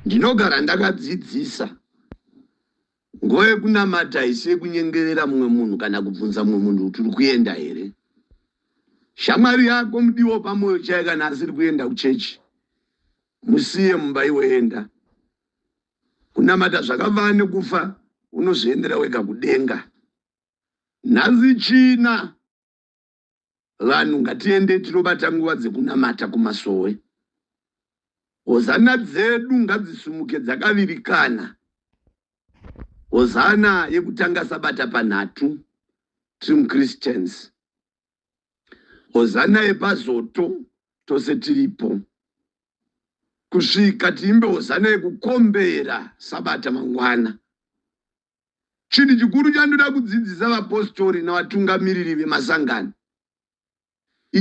Ndinogara ndakadzidzisa nguva yekunamata haisi yekunyengerera mumwe munhu kana kubvunza mumwe munhu kuti uri kuenda here. Shamwari yako mudiwo pamwoyo chaiye kana asiri kuenda kuchechi musiye mumba iwoenda kunamata zvakavaa nekufa unozviendera wega kudenga. Nhasi china. Vanhu ngatiende tinobata nguva dzekunamata kumasowe. Hozana dzedu ngadzisumuke dzakavirikana. Hozana yekutanga sabata panhatu trim Christians. Hozana yepazoto tose tiripo. Kusvika tiimbe hozana yekukombera sabata mangwana. Chinhu chikuru chandoda kudzidzisa vapositori navatungamiriri vemasangano,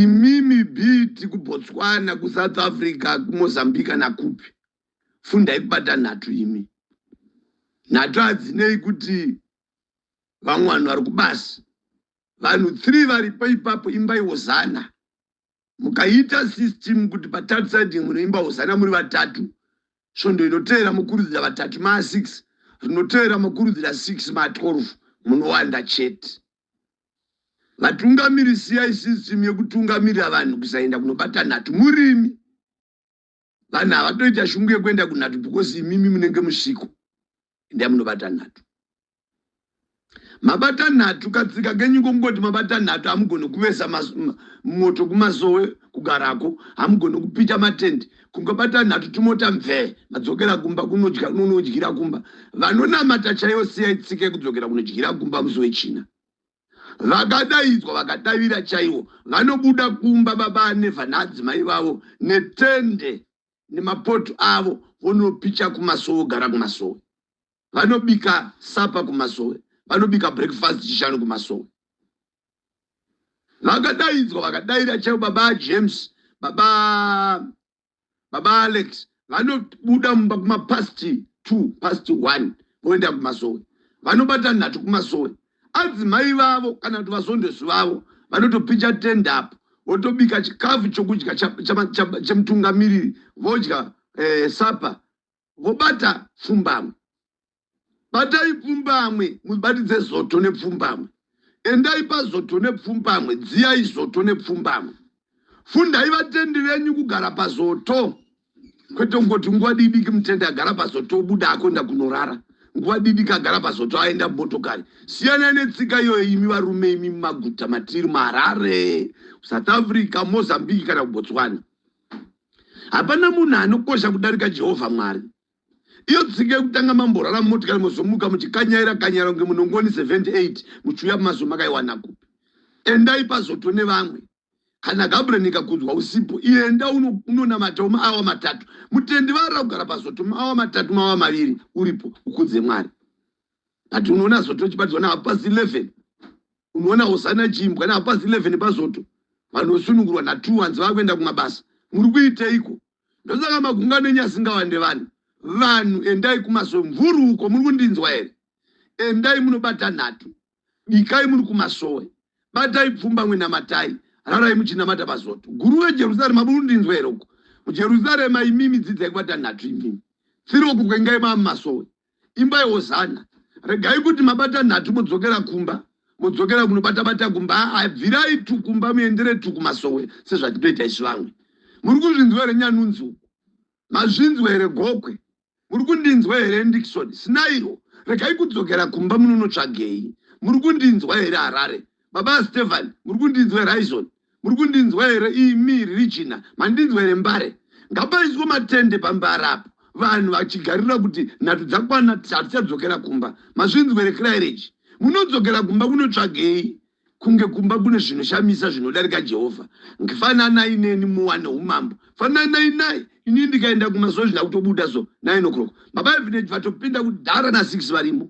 imimi biti kuBotswana, kuSouth Africa, kuMozambique kana kupi, fundai kubata nhatu imi. Nhatu hadzinei kuti vamwe vanhu vari kubasa, vanhu three varipo ipapo, imbaiwo zana. mukaita system kuti pa third side munoimba hosana muri vatatu svondo inoteera mokurudzira vatatu ma 6 rinoteera mokurudzira 6 ma 12 munowanda chete vatungamiri siyai system yekutungamirira vanhu kusaenda kunobata nhatu murimi vanhu havatoita shungu yekuenda kunhatu because imimi munenge musviko enda munobata nhatu mabata nhatu katsika kenyu kongoti mabata nhatu hamugoni kuvesa moto kumasowe kugarako hamugoni kupita matendi kungabata nhatu tumota mvee madzokera kumba kunodya kunonodyira kumba vanonamata chaiyo siyai tsika yekudzokera kunodyira kumba musi wechina vakadaidzwa vakadavira chaiwo vanobuda kumba baba anevha naadzimai vavo netende nemapoto avo vonopicha kumasowe ogara kumasowe vanobika sapa kumasowe vanobika breakfast chishanu kumasowe vakadaidzwa vakadaira chaiwo baba james baba baba alex vanobuda mumba kumapast two past one voenda kumazowe vanobata nhatu kumazowe adzimai vavo kana kuti vazondezvi vavo vanotopicha tende apo votobika chikafu chokudya chemutungamiriri vodya eh, sapa vobata pfumbamwe batai pfumbamwe mubatidze zoto nepfumbamwe endai pazoto nepfumbamwe dziyai zoto nepfumbamwe fundai vatendi venyu kugara pazoto kwete kungoti nguva didiki mutendi agara pazoto obuda akoenda kunorara nguva didiki agara pazoto aenda motokari siyanai netsika iyoyo imi varume imi mumaguta matiri maharare south africa mozambique kana kubotswana hapana munhu anokosha kudarika jehovha mwari iyo tsika yekutanga mamborara mumotikari mozomuka muchikanyaira kanyaira kunge munongoni 78 muchiuya mazo makaiwana kupi endai pazoto nevamwe kana gabriel nikakudzwa usipo ienda unonamata uno maawa matatu mutendi varira kugara pazoto maawa matatu maawa maviri uripo ukudze mwari but unoona zoto chibatidzwa naapo pasi 11 unoona hosana chimbwa napas 11 pazoto vanhu vosunungurwa natwo hanzi vava kuenda kumabasa muri kuiteiko ndosaka magungano enyu asingawande vanhu vanhu endai kumasowe mvuri uko muri kundinzwa here endai munobata nhatu bikai muri kumasowe batai pfumba mwenamatai rarai muchinamata pazoto guru vejerusarema muri kundinzwa here uko mujerusarema imimi dzidzai kubata nhatu imimi tsiroko kwengai mava mumasowe imba yehozana regai kuti mabata nhatu modzokera kumba modzokera kunobata bata kumba abvirai ah, ah, tukumba muendere tukumasowe sezvatinoita isu vamwe muri kuzvinzwa here nyanunzi uku mazvinzwa here gokwe muri kundinzwa here ndikisoni sinairo regai kudzokera kumba munonotsvagei muri kundinzwa here harare baba stephan muri kundinzwa here aizoni Muri kundinzwa here imi Regina? Mandinzwa here Mbare? Ngapaiswe matende pambara apo vanhu vachigarira kuti nhatu dzakwana hatichadzokera kumba. Mazvinzwa here Clairage? Munodzokera kumba kunotsvagei? kunge kumba kune zvinoshamisa zvinodarika jehovha ngifananai neni muwane umambo fananai nai ini ndikaenda kumazuva zvina kutobuda so nine o'clock baba evineji vatopinda kudhara nasix varimo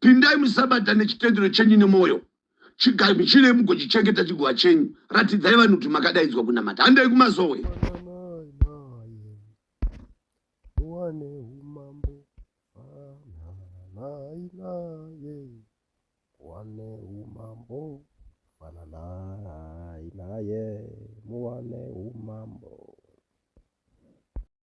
pindai musabata nechitendero chenyu nemwoyo chigamuchirei mugochichengeta chigova chenyu ratidzai vanhu kuti makadaidzwa kunamata handei kumazowe Yeah.